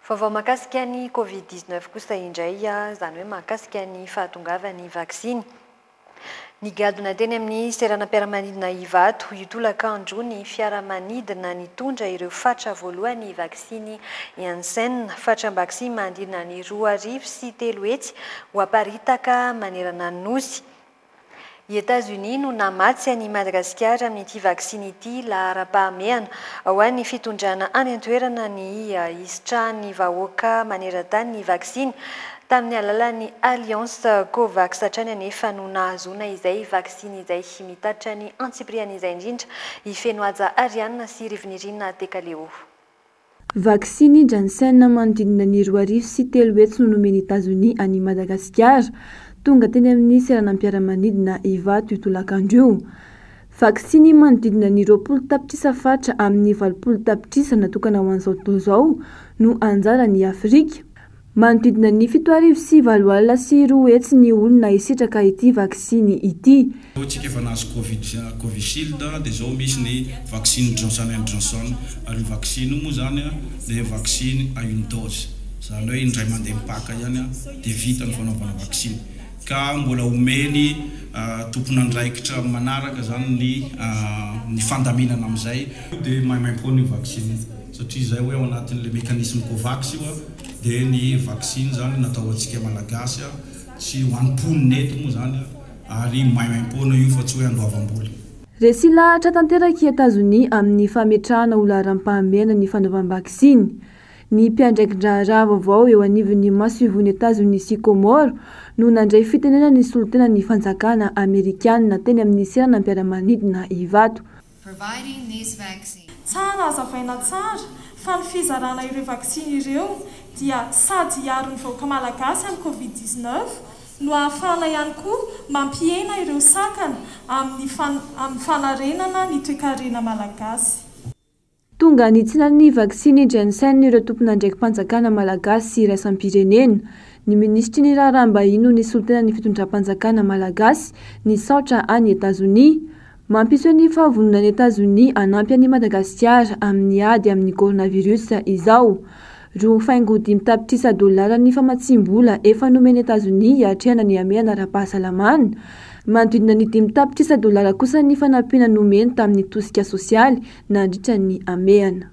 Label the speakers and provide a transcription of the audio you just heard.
Speaker 1: Vaovao mahakasika ny Covid dix neuf kosa indray, izany hoe mahakasika ny fahatongavan'ny vaksiny. Nigadona teny amin'ny seranam-piaramanidina Ivato, io tolakandro, ny fiaramanidina nitondra ireo fatra voalohan'ny vaksiny Janssen, fatram-baksiny manodidina ny roa arivo sy telo hetsy ho aparitaka manerana ny Nosy. I Etazonia no namatsy an' i Madagasikara amin'ity vaksiny ity laharam-pahamehana ho an'ny fitondrana any an-toerana ny hisitrahan'ny vahoaka maneran-tany ny vaksiny. Tamin'ny alalan'ny Alliance Covax hatrany anefa no nahazoana izay vaksiny izay mitatra ny antsipiriany izay indrindra hifeno haja arianina sy rivonirinina Tekaleo.
Speaker 2: Vaksiny Janssen manodidina ny roa arivo sy telo hetsy no nomen'i Etazonia an'i Madagasikara. Tonga teny amin'ny seranam-piaramanidina Ivato io tolakandro io. Vaksiny manodidina ny roapolo tapitrisa fatra amin'ny valopolo tapitrisa natokana ho an'izao tontolo izao no anjaran'i Afrika. Manodidina ny fito arivo sy valo alina sy roa hetsy ny olona hisitraka ity vaksiny ity. Ny tsikefana azy
Speaker 3: Covid Covishield dia izao, misy ny vaksiny Johnson and Johnson, ary io vaksiny io moa izany dia vaksiny à une dose, izany hoe indray mandeha mipaka ihany dia vita ny fanaovana vaksiny, ka mbola homeny tompon'andraikitra manaraka izany ny fandaminana amin'izay. Io dia maimaimpoana io vaksiny io. Satria izay hoe ao anatin'ilay mécanisme Covax io dia ny vaksiny izany natao ho antsika Malagasy, tsy ho an'ny mponina eto moa izany ary maimaim-poana io fa tsy hoe andoavam-bola. Resy lahatra
Speaker 2: tanteraka i Etazonia amin'ny fametrahana ho laharam-pahamehana ny fanaovam-baksiny. Ny mpiandraiki-draharaha vaovao eo anivon'ny masoivohon'i Etazonia sy Kômôro no nandray fitenenana ny solontenan'ny fanjakana amerikanina teny amin'ny seranam-piaramanidina Ivato, providing this vaccine.
Speaker 4: Tsara hazavaina tsara fa ny fizarana ireo vaksiny ireo dia sady hiaro ny vahoaka malagasy amin'ny covid dix-neuf no ahafahana ihany koa mampihena ireo sakana amin'ny amin'ny fanarenana ny toekarena malagasy. Tonga
Speaker 2: nitsina ny vaksiny Janssen ireo tompon'andraiki-panjakana malagasy sy iraisam-pirenena. Ny minisitry ny raharaham-bahiny no nisolo tena ny fitondram-panjakana malagasy nisaotra an'i Etazonia. Mampiseho ny fahavononan'i Etazonia hanampy an'i Madagasikara amin'ny ady amin'ny coronavirus izao. Roa faingo dimy tapitrisa dolara ny famatsiam-bola efa nomen'i Etazonia hiatrehana ny hamehana ara-pahasalamana. Manodidina ny dimy tapitrisa dolara kosa ny fanampiana nomeny tamin'ny tosika sosialy nandritra ny hamehana.